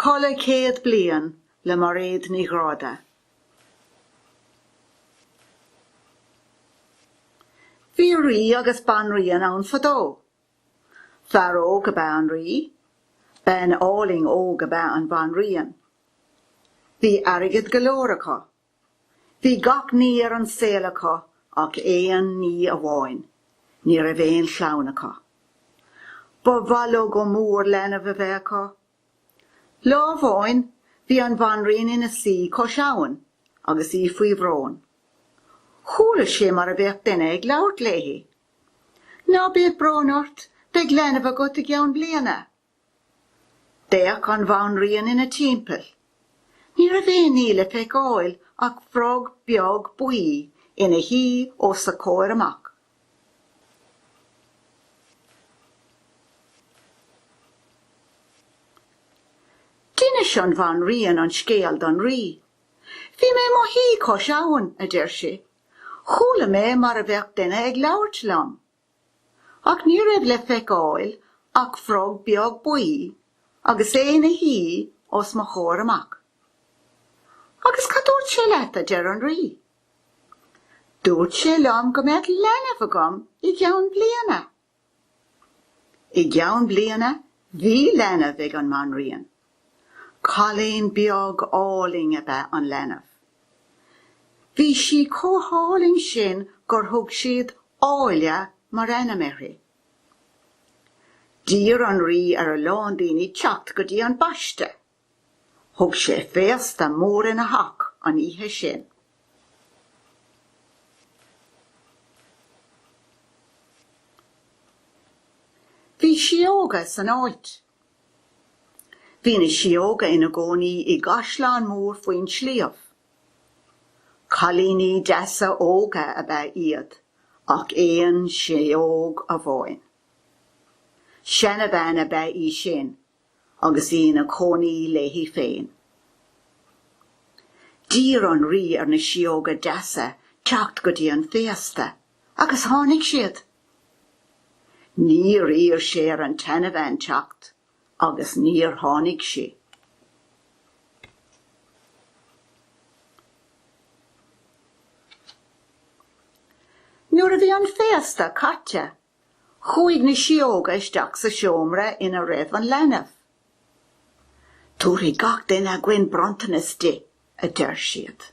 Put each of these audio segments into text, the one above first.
Codladh Céad Bliain le Mairéad Ní Ghráda Bhí rí agus banríon ann fadó. Fear óg ab ea an rí, bean álainn óg ab ea an bhanríon. Bhí airgead go leor acu Bhí gach ní ar an saol acu ach aon ní amháin, ní raibh aon chlann acu. Ba mhaith leo go mór leanbh a bheith acu. Lá amháin bhí an bhanríon ina suí cois abhann agus í faoi bhrón. Chuala sí mar a bheadh duine ag labhairt léi. Ná bíodh brón ort, beidh leanbh agat i gceann bliana. D'fhéach an bhanríon ina timpeall. Ní raibh aon ní le feiceáil ach frog beag buí ina shuí os a comhair amach. D'inis an bhanríon an scéal don rí. Bhí mé i mo shuí cois abhann, a deir sí. Chuala mé mar a bheadh duine ag labhairt liom. Ach ní raibh le feiceáil ach frog beag buí agus é ina shuí os mo chomhair amach. Agus cad dúirt sé leat, a deir an Rí? Dúirt sé liom go mbeadh leanbh agam i gceann bliana. I gceann bliana bhí leanbh ag an mBanríon Cailín beag álainn ab ea an leanbh. Bhí sí chomh hálainn sin gur thug siad 'Áille' mar ainm uirthi. D'iarr an rí ar a lán daoine teacht go dtí an baiste. Thug sé féasta mór ina theach an oíche sin. Bhí síóga san áit. Bhí na síóga ina gcónaí i gcaisleán mór faoin sliabh. Cailíní deasa óga ab ea iad ach aon síóg amháin. Seanabhean ab ea í sin agus í ina cónaí léi féin. D'iarr an rí ar na síóga deasa teacht go dtí an féasta Agus tháinig siad. Níor iarr sé ar an tseanabhean teacht agus níor tháinig sí. Nuair a bhí an féasta caite, chuaigh na síóga isteach sa seomra ina raibh an leanbh. Tabharfaidh gach duine againn bronntanas di, a deir siad.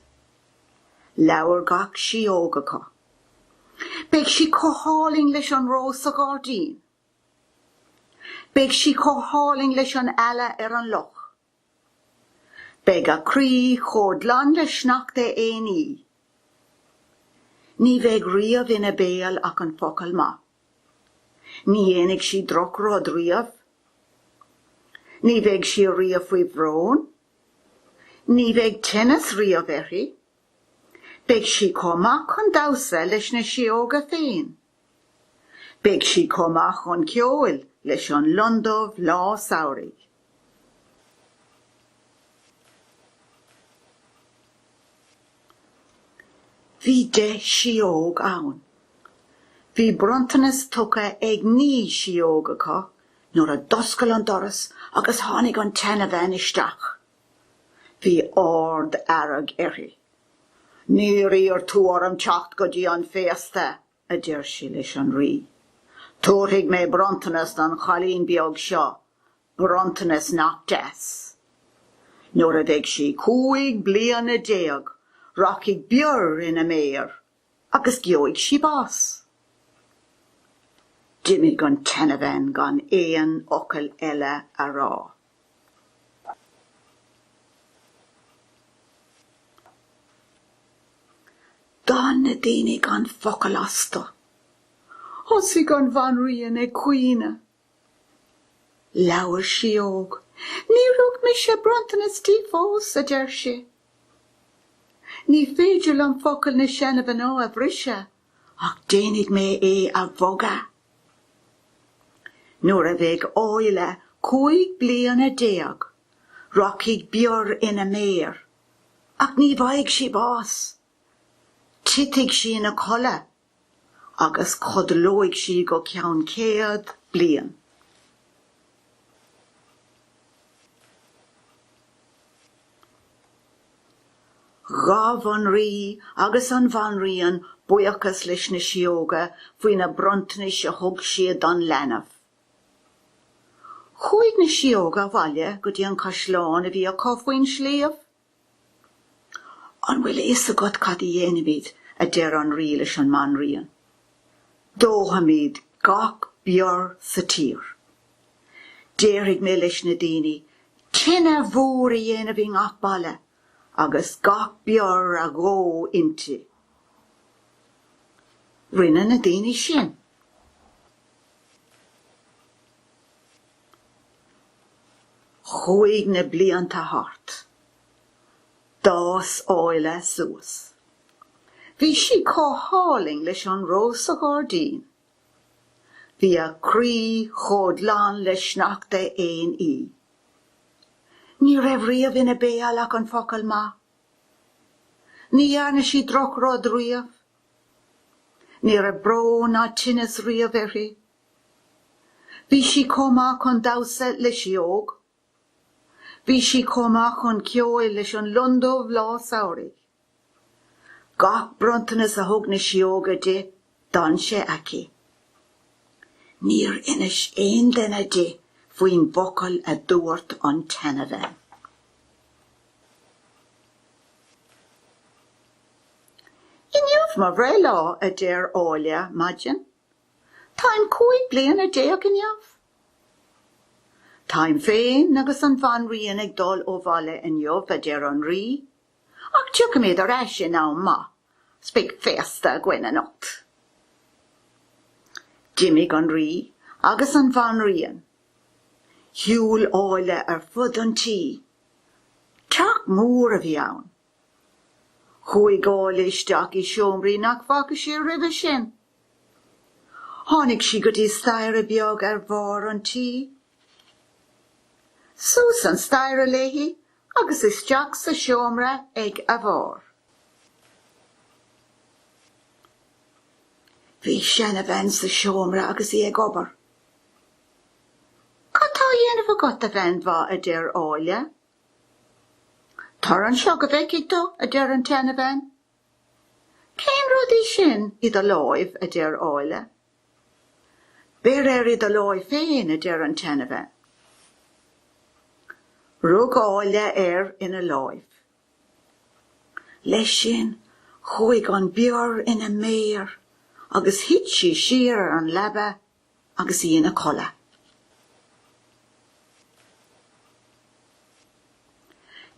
Labhair gach síóg acu. Beidh sí chomh hálainn leis an rós sa ghairdín. Beidh sí chomh hálainn leis an eala ar an loch. Beidh a croí chomh glan le sneachta aon oíche. Ní bheidh riamh ina béal ach an focal maith. Ní dhéanfaidh sí drochrud riamh. Ní bheidh sí riamh faoi bhrón. Ní bheidh tinneas riamh uirthi. Beidh sí chomh maith chun damhsa leis na sióga féin. Beidh sí chomh maith chun ceoil leis an lon dubh lá samhraidh. Bhí deich síóg ann. Bhí bronntanas tugtha ag naoi síóg acu nuair a d'oscail an doras agus tháinig an tseanabhean isteach. Bhí ard fhearg uirthi. Níor iarr tú orm teacht go dtí an féasta! a deir sí leis an rí. Tabharfaidh mé bronntanas don chailín beag seo, bronntanas nach deas. Nuair a bheidh sí cúig bliana déag, rachaidh bior ina méir agus gheobhaidh sí bás. D'imigh an tseanabhean gan aon fhocal eile a rá. D'fhan na daoine gan focal astu. Thosaigh an bhanríon ag caoineadh. Labhair síóg. Níor thug mise bronntanas di fós, a deir sí. Ní féidir liom focail na seanamhná a bhriseadh, ach déanfaidh mé é a bhogadh. Nuair a bheidh Áille cúig bliana déag, rachaidh bior ina méir, ach ní bhfaighidh sí bás. Titfidh sí ina codladh agus codlóidh sí go ceann céad bliain. Ghabh an Rí agus an Bhanríon buíochas leis na Sióga faoi na bronntanais a thug siad don leanbh. Chuaigh na Sióga abhaile go dtí an caisleán a bhí acu faoin sliabh. An bhfuil a fhios agat cad a dhéanfaimid, a deir an Rí leis an mBanríon. Dófaimid gach bior sa tír. Déarfaidh mé leis na daoine tine mhór a dhéanamh i ngach baile agus gach bior a dhó inti. Rinne na daoine sin. Chuaigh na blianta thart. D'fhás Áille suas. Bhí sí chomh hálainn leis an rós sa ghairdín. Bhí a croí chomh glan le sneachta aon oíche. Ní raibh riamh ina béal ach an focal maith. Ní dhearna sí drochrud riamh. Ní raibh brón ná tinneas riamh uirthi. Bhí sí chomh maith chun damhsa le sióg Bhí sí chomh maith chun ceoil leis an lon dubh lá samhraidh. Gach bronntanas a thug na sióga di, d'fhan sé aici. Níor inis aon duine di faoin bhfocal a dúirt an tseanabhean. Inniu mo bhreithlá, a deir Áille maidin. Táim cúig bliana déag inniu. Táim féin agus an bhanríon ag dul ó bhaile inniu, a deir an rí, ach tiocfaimid ar ais in am maith 's beidh féasta againn anocht. D'imigh an rí agus an bhanríon. Shiúil Áille ar fud an tí. Teach mór a bhí ann. Chuaigh Áille isteach i seomraí nach bhfaca sí roimhe sin. Tháinig sí go dtí staighre beag ar bharr an tí. Suas an staighre léi agus isteach sa seomra ag a bharr. Bhí seanabhean sa seomra agus í ag obair. Cad tá á dhéanamh agat a bhean mhaith a deir Áille Tar anseo go bhfeicfidh tú, a deir an tseanabhean. Cén rud é sin i do láimh? a deir Áille. Beir air i do láimh féin, a deir an tseanabhean. Rug Áille air ina láimh. Leis sin, chuaigh an bior ina méar agus thit sí siar ar an leaba agus í ina codladh.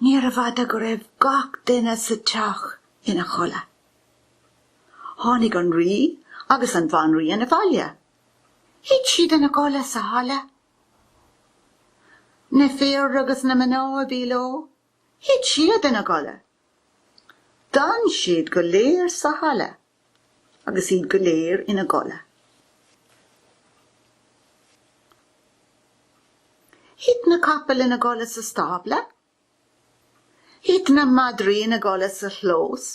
Níorbh fhada go raibh gach duine sa teach ina chodladh. Tháinig an Rí agus an Bhanríon abhaile. Thit siad ina gcodladh sa halla. Na fir agus na mná a bhí leo, thit siad ina gcodladh. D'fhan siad go léir sa halla. agus iad go léir ina gcodladh. Thit na capaill ina gcodladh sa stábla. Thit na madraí ina gcodladh sa chlós.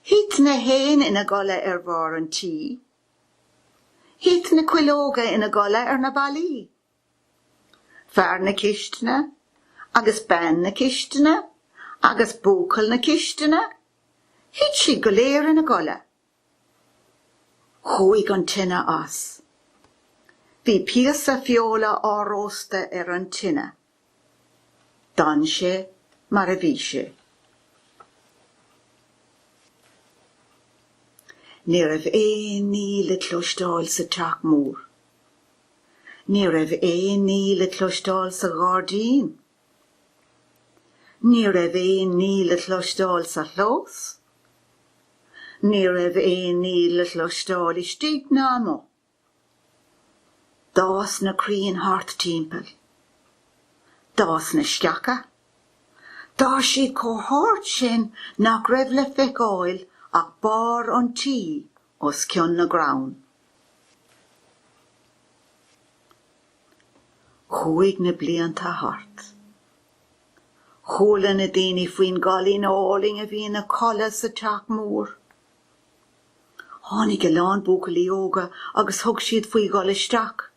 Thit na héin ina gcodladh ar bharr an tí. Thit na cuileoga ina gcodladh ar na ballaí. Fear na cistine agus bean na cistine agus buachaill na cistine, thit siad go léir ina gcodladh. Chuaigh an tine as. Bhí píosa feola á róstadh ar an tine. D'fhan sé mar a bhí sé. Ní raibh aon ní le cloisteáil sa teach mór. Ní raibh aon ní le cloisteáil sa ghairdín. Ní raibh aon ní le cloisteáil sa chlós. Ní raibh aon ní le cloisteáil istigh ná amuigh. D'fhás na crainn thart timpeall. D'fhás na sceacha. D'fhás siad chomh hard sin nach raibh le feiceáil ach barr an tí os cionn na gcrann. Chuaigh na blianta thart. Chuala na daoine faoin gcailín álainn a bhí ina codladh sa teach mór. Tháinig a lán buachaillí óga agus thug siad faoi dhul isteach.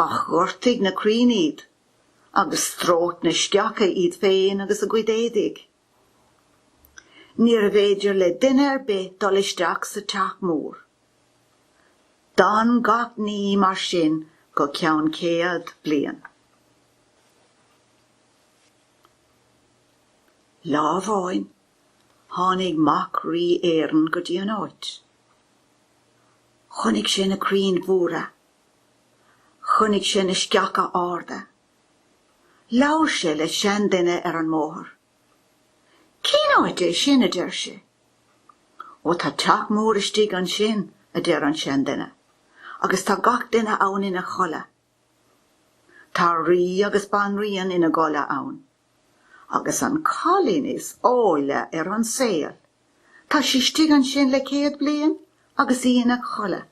Ach ghortaigh na crainn iad agus stróic na sceacha iad féin agus a gcuid éadaigh. Níorbh fhéidir le duine ar bith dul isteach sa teach mór. D'fhan gach ní mar sin go ceann céad bliain. Lá amháin, tháinig mac Rí Éireann go dtí an áit. Chonaic sé na crainn mhóra. Chonaic sé na sceacha arda. Labhair sé le seanduine ar an mbóthar. Cén áit é sin, a deir sé. Ó tá teach mór istigh ansin, a deir an seanduine, agus tá gach duine ann ina chodladh. Tá rí agus banríon ina gcodladh ann. agus an cailín is áille ar an saol, tá sí istigh ansin le céad bliain agus í ina codladh.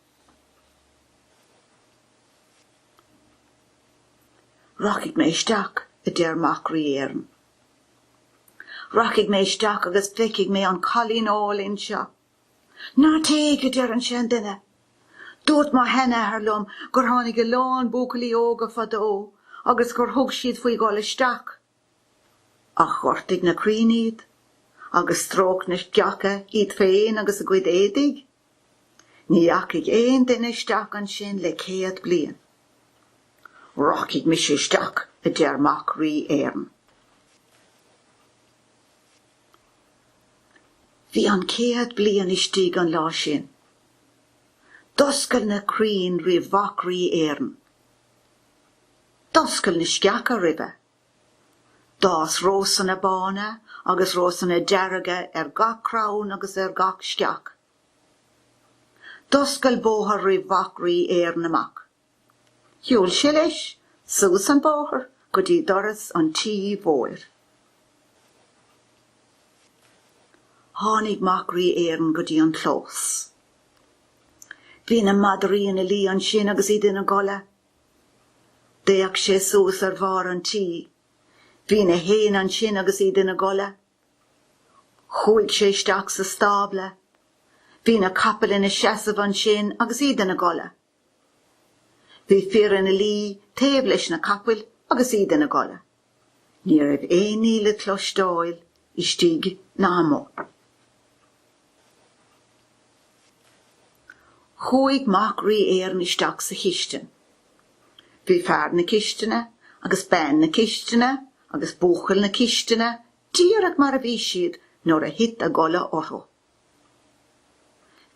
Rachaidh mé isteach, a deir mac Rí Éireann. Rachaidh mé isteach agus feicfidh mé an cailín álainn seo. Ná téigh, a deir an seanduine. Dúirt mo sheanathair liom gur tháinig a lán buachaillí óga fadó agus gur thug siad faoi dhul isteach ach ghortaigh na crainn iad agus stróic na sceacha iad féin agus a gcuid éadaigh. Ní dheachaigh aon duine isteach ansin le céad bliain. Rachaidh mise isteach, a deir mac Rí Éireann. Bhí an chéad bliain istigh an lá sin. D'oscail na crainn roimh mhac Rí Éireann. D'oscail na sceacha roimhe. D'fhás rósanna bána agus rósanna dearga ar gach crann agus ar gach sceach. D'oscail bóthar roimh mhac Rí Éireann amach. Shiúil sé leis suas an bóthar go dtí doras an tí mhóir. Tháinig mac Rí Éireann go dtí an clós. Bhí na madraí ina luí ansin agus iad ina gcodladh. D'fhéach sé suas ar bharr an tí. Bhí na héin ansin agus iad ina gcodladh. Chuaigh sé isteach sa stábla. Bhí na capaill ina seasamh ansin agus iad ina gcodladh. Bhí fir ina luí taobh leis na capaill agus iad ina gcodladh. Ní raibh aon ní le cloisteáil istigh ná amuigh. Chuaigh mac Rí Éireann isteach sa chistin. Bhí fear na cistine agus bean na cistine agus buachaill na cistine díreach mar a bhí siad nuair a thit a gcodladh orthu.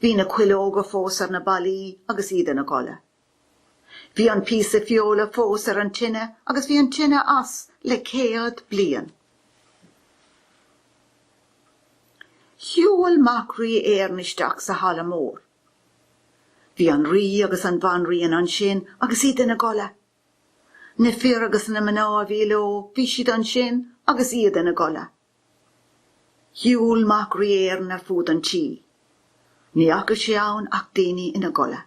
Bhí na cuileoga fós ar na ballaí agus iad ina gcodladh. Bhí an píosa feola fós ar an tine agus bhí an tine as le céad bliain. Shiúil mac Rí Éireann isteach sa halla mór. Bhí an Rí agus an Bhanríon ansin agus iad ina gcodladh. Na fir agus na mná a bhí leo, bhí siad ansin agus iad ina gcodladh. Shiúil mac Rí Éireann ar fud an tí. Ní fhaca sé ann ach daoine ina gcodladh.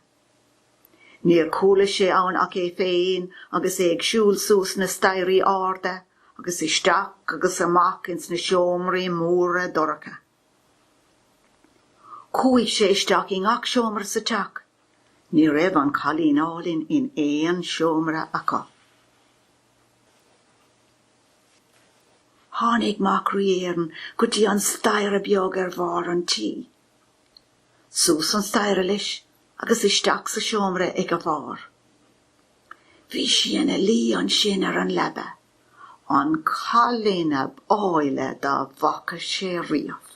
Níor chuala sé ann ach é féin agus é ag siúl suas na staighrí arda agus isteach agus amach ins na seomraí móra dorcha. Chuaigh sé isteach i ngach seomra sa teach. Ní raibh an cailín álainn in aon seomra acu. Tháinig Mac Rí Éireann go dtí an staighre beag ar bharr an tí. Suas an staighre leis agus isteach sa seomra ag a bharr. Bhí sí ina luí ansin ar an leaba, an cailín ab áille dá bhfaca sé riamh.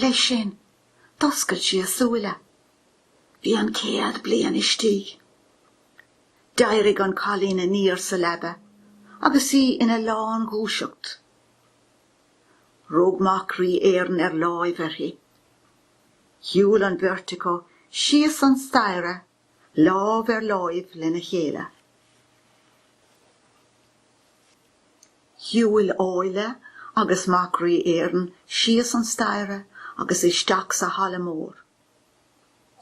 Leis sin, d'oscail sí a súile. Bhí an céad bliain istigh. D'éirigh an cailín aniar sa leaba agus í ina lán dhúiseacht. Rug mac Rí Éireann ar láimh uirthi. Shiúil an bheirt acu síos an staighre lámh ar láimh lena chéile. Shiúil Áille agus mac Rí Éireann síos an staighre agus isteach sa halla mór.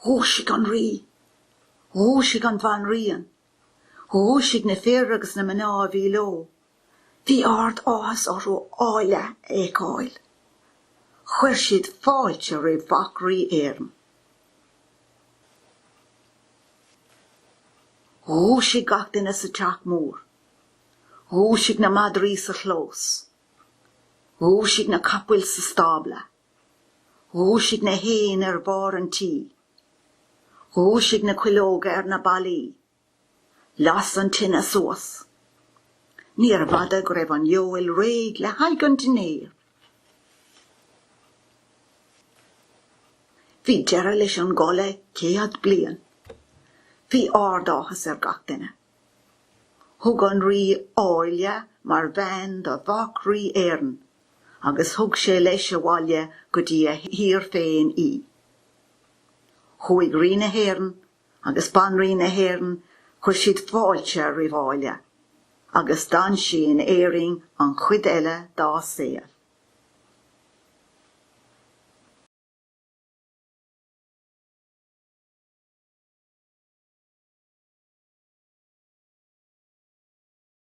Dhúisigh an Rí. Dhúisigh an bhanríon. Dhúisigh na fir agus na mná a bhí leo. Bhí ard áthas orthu Áille a fheiceáil. Chuir siad fáilte roimh mhac rí Éireann. Dhúisigh gach duine sa teach mór. Dhúisigh na madraí sa chlós. Dhúisigh na capaill sa stábla. Dhúisigh na héin ar bharr an tí. Dhúisigh na cuileoga ar na ballaí. Las an tine suas. Níorbh fhada go raibh an fheoil réidh le haghaidh an dinnéir. Bhí deireadh leis an gcodladh céad bliain. Bhí ard-áthas ar gach duine. Thug an rí Áille mar bhean do mhac Rí Éireann. agus thug sé leis abhaile go dtí a thír féin í. Chuaigh Rí na hÉireann agus Banríon na hÉireann chuir siad fáilte roimh Áille agus d'fhan sí in Éirinn an chuid eile dá saol.